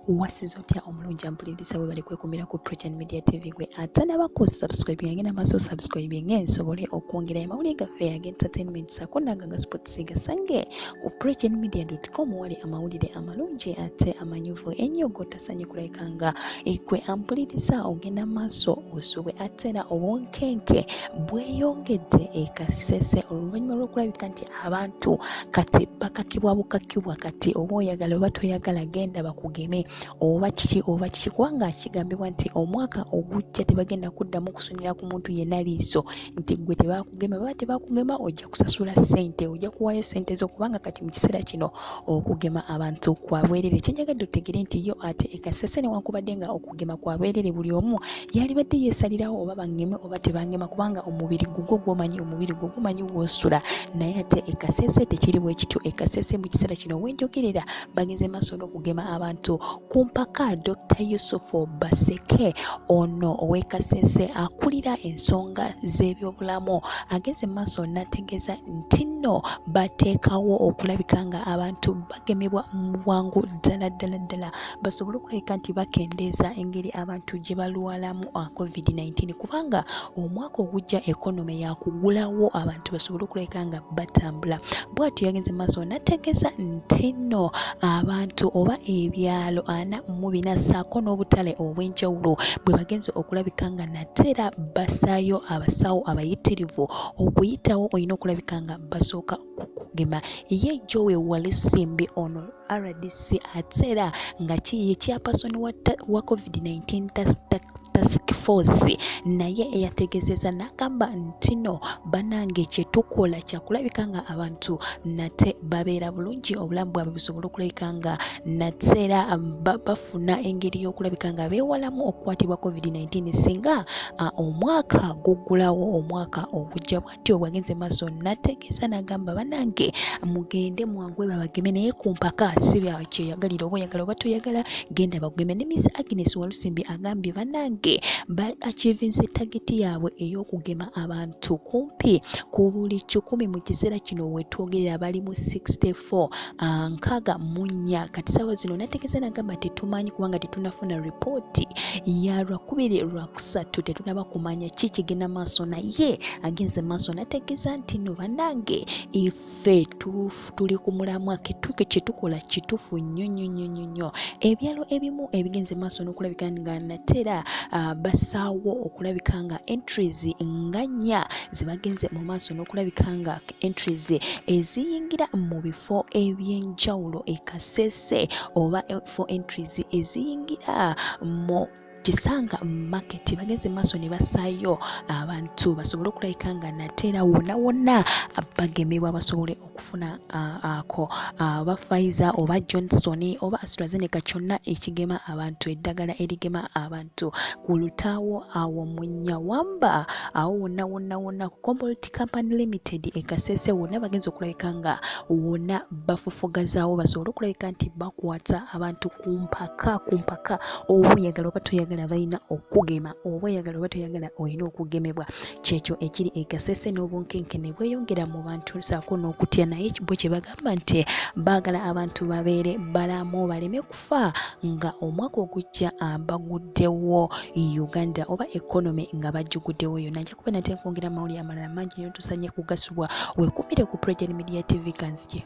wasiza otya omulungi ampuliriza webale kwekumira ku prechen media tv gwe atanaba ku subscribe yange namaaso subscribe nga ensobole okwongera amawulire gaffe aga entertainment sako nanga nga sports gasange ku prechen media com wali amawulire amalungi ate amanyuvu ennyo gotasanye kulabika nga ekwe ampuliriza ogenda maaso osubwe ate era obunkenke bweyongedde ekasese oluvannyuma lwokulabika nti abantu kati bakakibwa bukakibwa kati oba oyagala oba toyagala genda bakugeme oba kiki oba kiki kubanga kigambibwa nti omwaka ogujja tebagenda kuddamu kusonera ku muntu yenna liiso nti gwe tebakugema baba tebakugema ojja kusasula ssente ojja kuwaayo ssente zo kubanga kati mu kiseera kino okugema abantu kwabwerere kyenjagadde otegere nti yo ate ekasese newankubadde nga okugema kwa bwerere buli omu yalibadde yesalirawo oba bangeme oba tebangema kubanga omubiri gugwo gwomanyi omubiri gwo gumanyi gwosula naye ate ekasese tekiri bwekityo ekasese mu kiseera kino wenjogerera bagenze maaso n'okugema abantu ku mpaka dr yusufu baseke ono owekasese akulira ensonga z'ebyobulamu agenze mu maaso n'ategeeza nti nno bateekawo okulabika nga abantu bagemebwa mu bwangu ddala ddala ddala basobole okulabika nti bakendeeza engeri abantu gye balwalamu ah, covid-19 kubanga omwaka ogujja ekonome yakugulawo abantu basobole okulabika nga batambula bwatyo yagenze maaso nategeeza nti no abantu oba ebyalo ana mu bina saako n'obutale obw'enjawulo bwe bagenze okulabika nga nateera basaayo abasawo abayitirivu okuyitawo olina okulabika nga basooka okugema ye jowe walisimbi ono rdc ate era nga kiye kyapasoni wa covid-19 task force naye eyategezeza nagamba ntino banange kyetukola kyakulabika nga abantu nate babeera bulungi obulamu bwabwe busobola okulabika nga nate era bafuna engeri yokulabika nga bewalamu okukwatibwa covid-19 singa omwaka gugulawo omwaka ogujja bwa bwatyo bwagenze maaso nategeeza nagamba banange mugende mwangu babageme naye kumpaka si kyeyagalira oba oyagala oba toyagala genda bageme ne miss agnes walusimbi agambye banange ba achievinse tageti yaabwe ey'okugema abantu kumpi ku buli kikumi mu kiseera kino wetwogerera bali mu 64 ah, nkaga munya kati saawa zino nategeeza nagamba tetumanyi kubanga tetunafuna ripooti ya lwakubiri lwa kusatu tetunaba kumanya ki kigenda maaso naye agenze maaso nategeeza nti no banange ife tuli ku mulamwa ketuke kyetukola kitufu nnyo nnyo nnyo nnyo nnyo ebyalo ebimu ebigenze maaso n'okulabika nga natera uh, basaawo okulabika nga entries nga nnya zebagenze mu maaso n'okulabika nga entries eziyingira mu bifo ebyenjawulo ekasese oba for entries eziyingira mu kisanga market bageze maaso ne basaayo abantu basobole okulabika nga nateera wonna wonna bagemebwa basobole okufuna ako oba Pfizer oba Johnson oba AstraZeneca kyonna ekigema abantu eddagala erigema abantu ku lutaawo awo mu Nyawamba awo wonna wonna wonna ku Combolti Company Limited e Kasese wonna bagenze okulabika nga wonna bafufugazaawo basobole okulabika nti bakwata abantu ku mpaka ku mpaka oba oyagala oba toyagala balina okugema oba oyagala oba toyagala olina okugemebwa kyekyo ekiri egasese n'obunkenkene bweyongera mu bantu saako n'okutya naye bo kye bagamba nti baagala abantu babeere balamu baleme kufa nga omwaka ogujja ah, baguddewo uganda oba economy nga bajjuguddewo yona nja kuba nate nkwongera amawulire amalala mangi nyotusanye kugasubwa wekumire ku president media tv kanzije